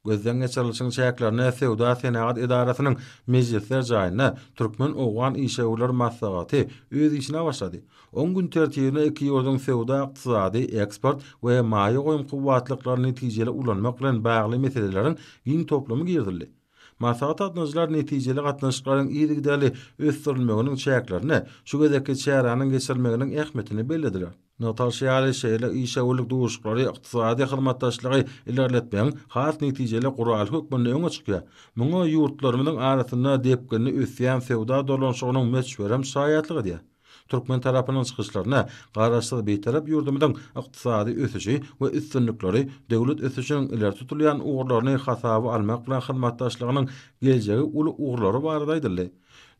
Gözden geçirilişiň çäklerinde Söwda-senagat edarasynyň mejlisler jaýynda Türkmen-owgan işewürler maslahaty öz işine başlady. Oň gün tertibine iki ýurduň söwda-ykdysady, eksport we maýa goýum kuwwatlyklaryny netijeli ulanmak bilen bagly meseleleriň giň toplumy girizildi. Maslahata gatnaşyjylar netijeli gatnaşyklaryň yzygiderli ösdürilmeginiň çäklerinde şu gezekki çäräniň geçirilmeginiň ähmiýetini bellediler. Nataşa ýaly şeýle işewürlik duşuşyklary ykdysady hyzmatdaşlygy ilerletmegiň has netijeli guraly hökmünde öňe çykýar. Muňa ýurtlarymyzyň arasynda depginli ösýän söwda dolanyşygynyň möçberem şaýatlyk edýär. Türkmen tarapynyň çykyşlaryna Garaşsyz, Bitarap ýurdumyzyň ykdysady ösüşi we üstünlikleri döwlet ösüşiniň ileri tutulýan ugurlaryny hasaba almak bilen hyzmatdaşlygynyň geljegi uly ugurlary barada aýdyldy.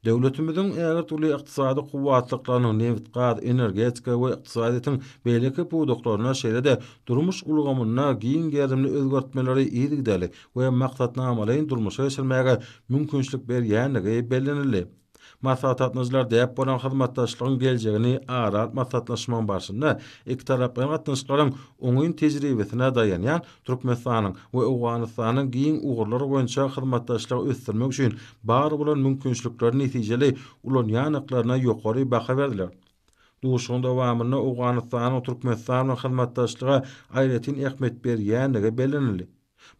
Döwletimiziň ägirt uly ykdysady kuwwatlyklarynyň nebit-gaz, energetika we ykdysadyýetiň beýleki pudaklarynda, şeýle-de durmuş ulgamynda giň gerimli özgertmeleri yzygiderli we maksatnamalaýyn durmuşa geçirmäge mümkinçilik berýändigi bellenildi. Maslahatgatnaşyjylar däp bolan hyzmatdaşlygyň geljegini ara alyp maslahatlaşmagyň barşynda ikitaraplaýyn gatnaşyklaryň oňyn tejribesine daýanýan Türkmenistanyň we Owganystanyň giň ugurlar boýunça hyzmatdaşlygy ösdürmek üçin bar bolan mümkinçilikleri netijeli ulanýandyklaryna ýokary baha berdiler. Duşuşygyň dowamynda Owganystanyň Türkmenistan bilen hyzmatdaşlyga aýratyn ähmiýet berýändigi bellenildi.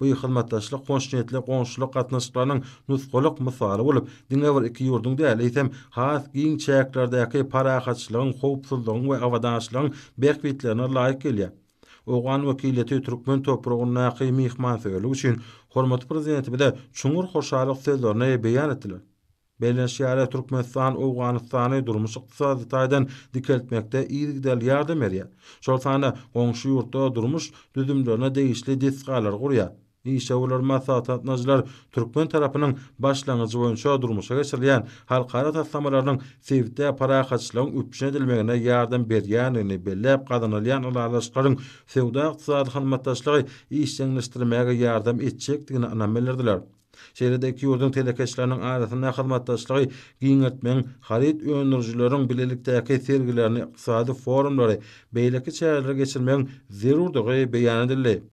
Bu hyzmatdaşlyk hoşniýetli goňşulyk gatnaşyklarynyň nusgalyk mysaly bolup, diňe bir iki ýurduň däl, eýsem, has giň çäklerdäki parahatçylygyň, howpsuzlygyň we abadançylygyň bähbitlerine laýyk gelýär. Owgan wekiliýeti türkmen topragyndaky myhmansöýerlik üçin hormatly Prezidentimize çuňňur hoşallyk sözlerini beýan etdiler. Bellenişi ýaly, Türkmenistan Owganystany durmuş-ykdysady taýdan dikeltmekde yzygiderli ýardam berýär, şol sanda goňşy ýurtda durmuş düzümlerine degişli desgalary gurýar. Işewürler maslahatlatmajylar türkmen tarapynyň başlangyjy boýunça durmuşa geçirilýän halkara taslamalarynyň sebitde parahatçylygyň üpjün edilmegine ýardam berýändigini belläp gazanylýan ylalaşyklaryň söwda-ykdysady hyzmatdaşlygy işjeňleşdirmäge ýardam etjekdigine ynam bildirdiler. Şeýle-de iki ýurduň telekeçileriniň arasynda hyzmatdaşlygy giňeltmegiň, haryt öndürijileriň bilelikdäki sergilerini, ykdysady forumlary, beýleki çäreleri geçirmegiň zerurdygy beýan edildi.